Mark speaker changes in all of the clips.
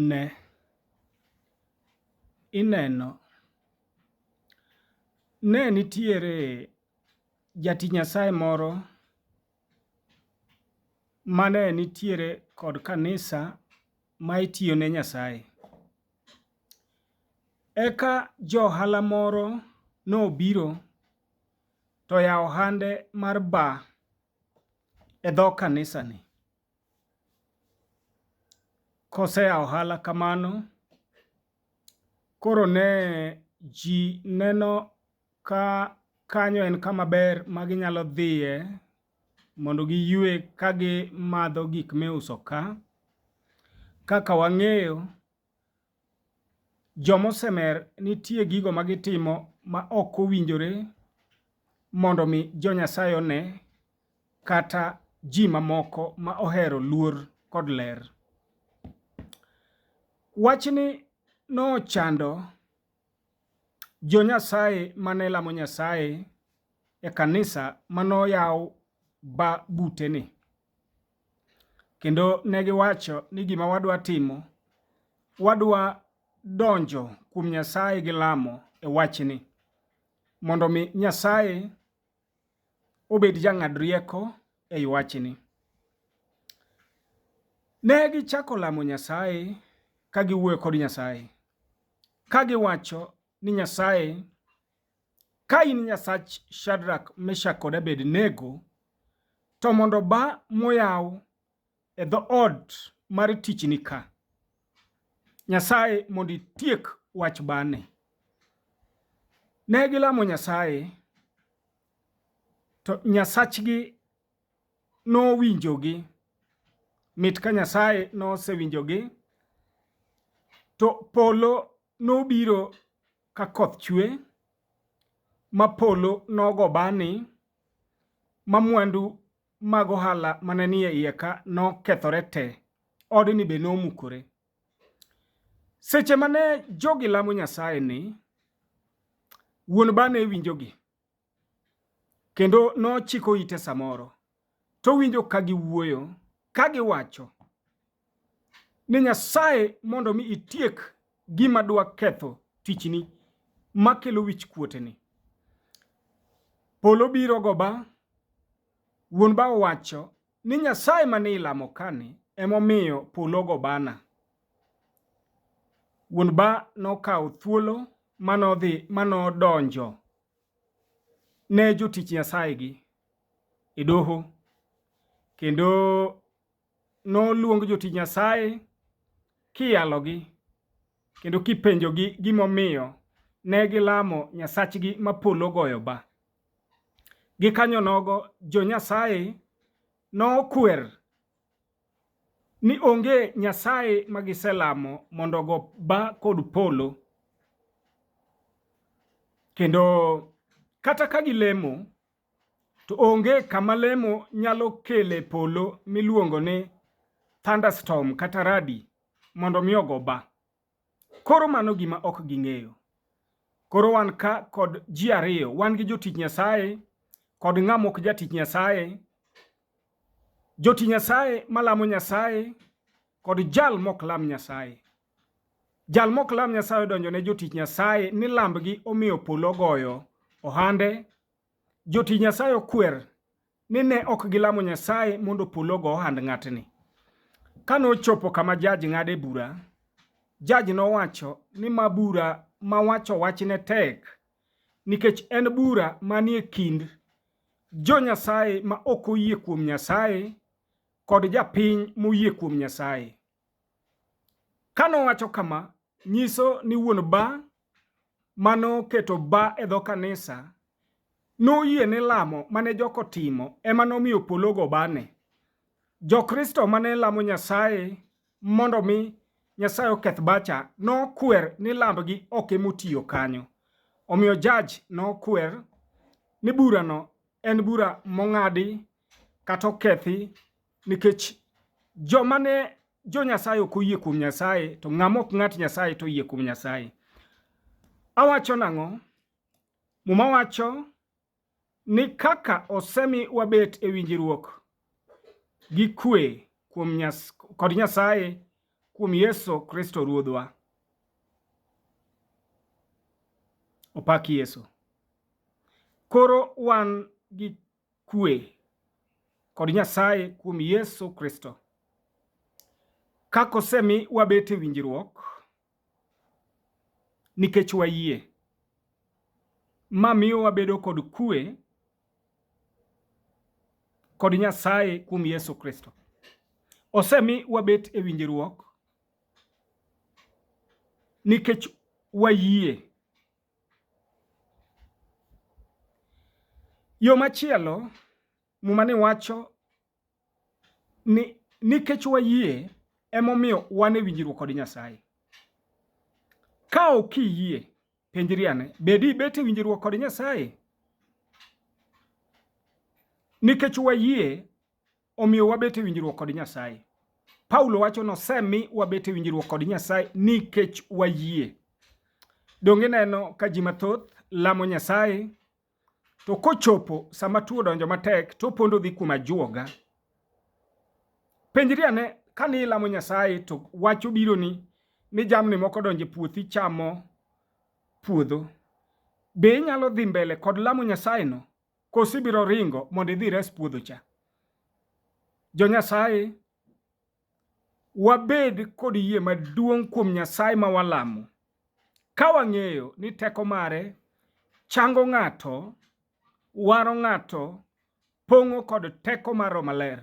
Speaker 1: Ne! Ineno, ne nitiere jati Nyasaye moro mane nitiere kod kanisa ma itiyo ne Nyasaye. Eka jo ohala moro nobiro to oyawo ohande mar bar e dho kanisani. Koseya ohala kamano, koro ne ji neno ka kanyo en kama ber ma ginyalo dhiye mondo giywe ka gimadho gik miuso ka. Kaka wang'eyo Joma osemer nitie gigo ma gitimo ma ok owinjore mondo mi jo Nyasaye one kata ji mamoko ma ohero luor kod ler. Wachni nochando jo Nyasaye mane lamo Nyasaye e kanisa manoyaw ba buteni. Kendo ne giwacho ni gima wadwa timo, wadwa donjo kuom Nyasaye gi lamo e wachni, mondo mi Nyasaye obed jang'ad rieko ei wachni. Ne gichako lamo Nyasaye ka giwuoyo kod Nyasaye, ka giwacho ni Nyasaye Ka in Nyasach Shadrak, Meshak kod Abednego, to mondo ba moyaw e dho ot mar tichni ka. Nyasaye mondo itiek wach bane. Ne gilamo Nyasaye, to Nyasachgi nowinjogi. Mit ka Nyasaye nosewinjogi, to polo nobiro ka koth chwe, ma polo nogo bani, ma mwandu mag ohala mane ni e iye ka nokethore te, odni be nomukore. Seche mane jogi lamo Nyasaye ni, wuon bani ne winjogi. Kendo nochiko ite samoro, to winjo ka giwuoyo, ka giwacho ni Nyasaye mondo mi itiek gima dwa ketho tichni makelo wich kuoteni. Polo biro goba, wuon ba owacho ni Nyasaye mane ilamo kani emomiyo polo gobana. Wuon ba nokawo thuolo manodhi manodonjo ne jotich Nyasayegi e doho kendo noluong jotich Nyasaye kiyalogi kendo kipenjogi gimomiyo ne gilamo nyasachgi ma polo goyo ba. Gikanyo nogo jo Nyasaye nokwer ni onge nyasaye ma giselamo mondo go ba kod polo kendo kata ka gilemo to onge kama lemo nyalo kele polo miluongo ni thunderstorm kata radi mondo mi ogo ba. Koro mano gima ok ging'eyo. Koro wan ka kod ji ariyo, wan gi jotich Nyasaye kod ng'ama ok jatich Nyasaye. Jotich Nyasaye malamo Nyasaye kod jal mok lam Nyasaye. Jal mok lam Nyasaye odonjo ne jotich Nyasaye ni lambgi omiyo polo ogoyo ohande Joti Nyasaye okwer ni ne ok gilamo Nyasaye mondo polo ogo ohand ng'atni. Ka nochopo kama jaj ng'ade bura, jaj nowacho ni ma bura ma wacho wachne tek nikech en bura manie kind jo Nyasaye ma ok oyie kuom Nyasaye kod japiny moyie kuom Nyasaye. Ka nowacho kama, nyiso ni wuon bar ma noketo bar e dho kanisa noyie ni lamo ma ne jogo timo e ma nomiyo polo ogo barne. Jokristo ma ne lamo Nyasaye mondo mi Nyasaye oketh barcha nokwer ni lambgi ok e motiyo kanyo. Omiyo jaj nokwer ni burano en bura mong'adi kata okethi Nikech joma ne jo Nyasaye ok oyie kuom Nyasaye, to ng'ama ok ng'at Nyasaye to oyie kuom Nyasaye. Awacho nang'o? Muma wacho ni kaka osemi wabet e winjruok gi kwe kuom nyas, kod Nyasaye kuom Yesu Kristo Ruodhwa. Opak Yesu. Koro wan gi kwe kod Nyasaye kuom Yesu Kristo. Kako semi wabet e winjruok nikech wayie, ma miyo wabedo kod kwe kod Nyasaye kuom Yesu Kristo. Osemi wabet e winjruok nikech wayie Yo machielo, Muma ni wacho ni nikech wayie emomiyo wan e winjruok kod Nyasaye. Ka ok iyie, penjri ane, be dibet e winjruok kod Nyasaye? Nikech wayie Omiyo wabet e winjruok kod Nyasaye. Paulo wacho ni osemi wabet e winjruok kod Nyasaye nikech wayie. Donge ineno ka ji mathoth lamo Nyasaye to kochopo sama tuo donjo matek to opondo dhi kuom ajuoga. Penjri ane ka ni ilamo Nyasaye to wach obironi ni jamni moko donjo e puothi chamo puodho. Be inyalo dhi mbele kod lamo Nyasayeno Koso ibiro ringo mondo idhi res puodho cha? Jo Nyasaye, wabed kod yie maduong' kuom Nyasaye ma walamo, ka wang'eyo ni teko mare chango ng'ato, waro ng'ato, pong'o kod teko mar Roho Maler.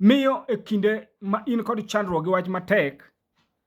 Speaker 1: Miyo e kinde ma in kod chandruok gi wach matek,